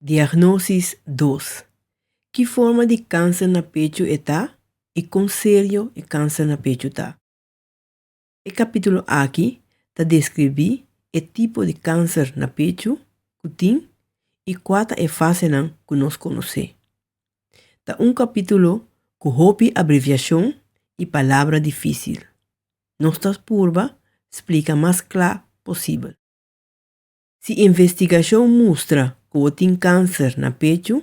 Diagnosis dos. Ki forma di kanser na pechu e ta i kon serio e kanser na pechu ta. E kapítulo aki ta deskribí e tipo di kanser na pechu ku tin i kua ta e fasenan ku nos konosé. Ta un kapítulo ku hopi abreviashon i palabra difísil. Nos ta purba splika mas kla posibel. Si investigashon mustra ku bo tin kanser na pechu,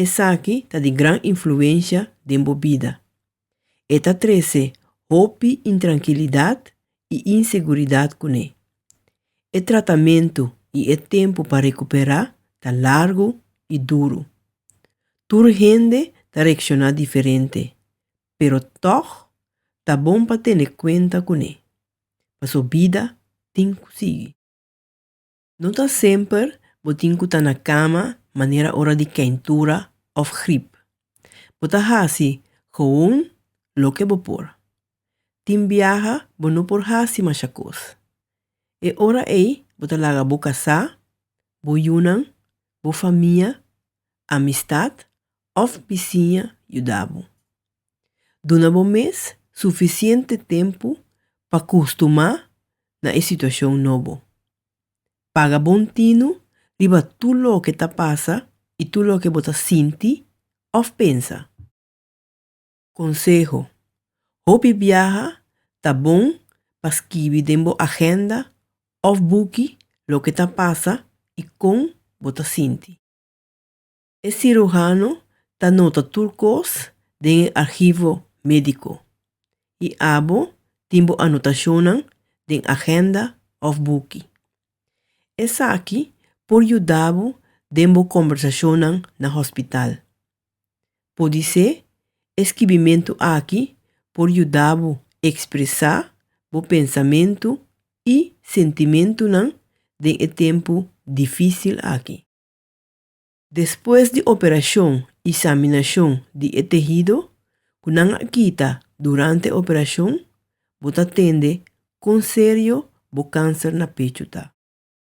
esaki ta di gran influensha den bo bida. E ta trese hopi intrankilidat i inseguridat kuné. E tratamentu i e tempu pa rekuperá ta largu i duru. Tur hende ta reakshoná diferente, pero tòg ta bon pa tene kuenta kuné, paso bida tin ku sigui. No ta semper bo tin ku ta na kama manera ora di keintura òf grip. Bo ta hasi gewoon loke bo por. Tin biaha bo no por hasi masha kos. E ora ei bo ta laga bo kasá, bo yunan, bo famia, amistat Òf bisiña yuda bo. Duna bo mes sufisiente tempu pa kustumá na e situashon nobo. Paga bon tinu riba tur loke ta pasa i tur loke bo ta sinti òf pensa. Konseho, Hopi biaha ta bon pa skibi den bo agenda òf buki loke ta pasa i kon bo ta sinti. E cirujano ta nota tur cos den e archivo medico y abo tin bo anotacionnan den agenda of buki. Esaki por yuda bo den bo conversacionnan na hospital. Podice e skibimentu aki por yuda bo expresa bo pensamentu y sentimentunan den e tempu dificil aki. Despues di operashon i saminashon di e tehido ku nan a kita durante e operashon, bo ta tende kon serio bo kanser na pechu ta.